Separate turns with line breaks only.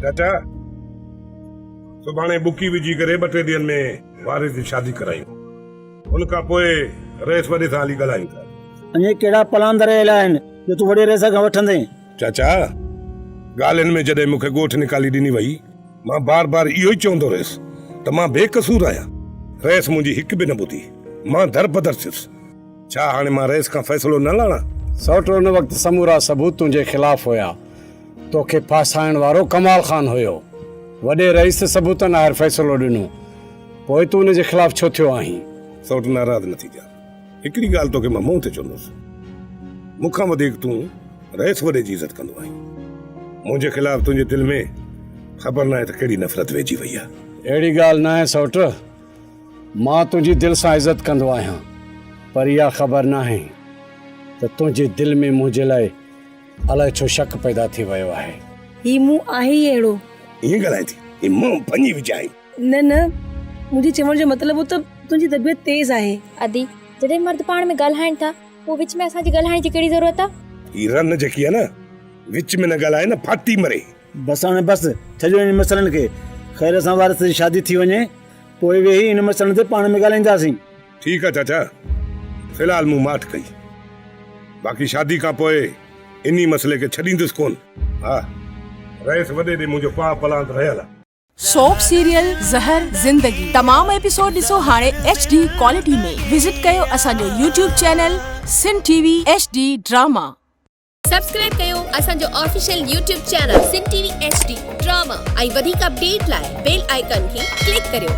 چاچا سڀاڻي بڪي وجهي ڪري ٻه ٽي ڏينهن ۾ وارث جي شادي ڪرايون ان کان پوء رئيس وڏي سان هلي ڳالهايون ٿا. اڃي ڪهڙا پلان
ڌريل آهن جو تون وڏي رئيس کان وٺندين؟ چاچا
ڳالهين ۾ جڏهن مون کي ڳوٺ نڪالي ڏني وئي مان بار بار اهو ئي چوندو رهيس ته مان بي قصور آهيان رئيس منهنجي هڪ به نه ٻڌي مان در بدر ٿيس ڇا هاڻي مان رئيس کان فيصلو نه لاڻان؟ سئوٽ ان وقت
سمورا ثبوت تنهنجي خلاف هيا. توکي ڦاسائڻ وارو ڪمال خان هيو. وڏي رئيس ثبوتن آهر فيصلو ڏنو. پوء تون ان جي خلاف ڇو ٿيو آهين؟ سئوٽ ناراض نه
ٿيجان. هڪڙي ڳالهه توکي مان منهن تي چوندس. مون کان وڌيڪ تون رئيس وڏي جي عزت ڪندو آهين. منهنجي خلاف تنهنجي دل ۾ خبر ناهي ته ڪهڙي نفرت ويهجي وئي آهي. اهڙي ڳالهه ناهي
سئوٽ. مان تنهنجي دل سان عزت ڪندو آهيان. پر اها خبر ناهي ته تنهنجي دل ۾ منهنجي لاء الائي ڇو شڪ پيدا ٿي ويو آهي. هي مون آهي
ئي اهڙو. ائين ڳالهائين ٿي
جي مان ڀڃي وجهاين. نه نه
منهنجي چوڻ جو مطلب هو ته تنهنجي طبيعت تيز آهي. ادي، جڏهن
مرد پاڻ ۾ ڳالهائين ٿا پوء وچ ۾ اسان جي ڳالهائڻ جي ڪهڙي ضرورت آ؟ هي رن جيڪي آ
نه وچ ۾ نه ڳالهائي نه ڦاٽي مري. بس هاڻي بس،
ڇڏيو انهن مسئلن کي. خير اسان وارث جي شادي ٿي وڃي پوء ويهي انهن مسئلن تي پاڻ ۾ ڳالهائينداسين. ٺيڪ آ چاچا،
في الحال مون ماٺ ڪئي، باقي شادي کان پوء انهي مسئلي کي ڇڏيندس ڪونه. ها، رئيس وڏي ڏي منهنجو پاء پلاند رهيل آ. سوپ سيريل
زهر زندگي تمام ايپيسوڊ ڏسو هاڻي ايڇ ڊي ڪوالٽي ۾ وزٽ ڪيو اسان جو YouTube channel Sun T V H D drama. Subscribe
ڪيو اسان جو official YouTube channel Sun T V H D drama ۽ وڌيڪ اپڊيٽ لاء بيل آئيڪان کي ڪلڪ ڪريو.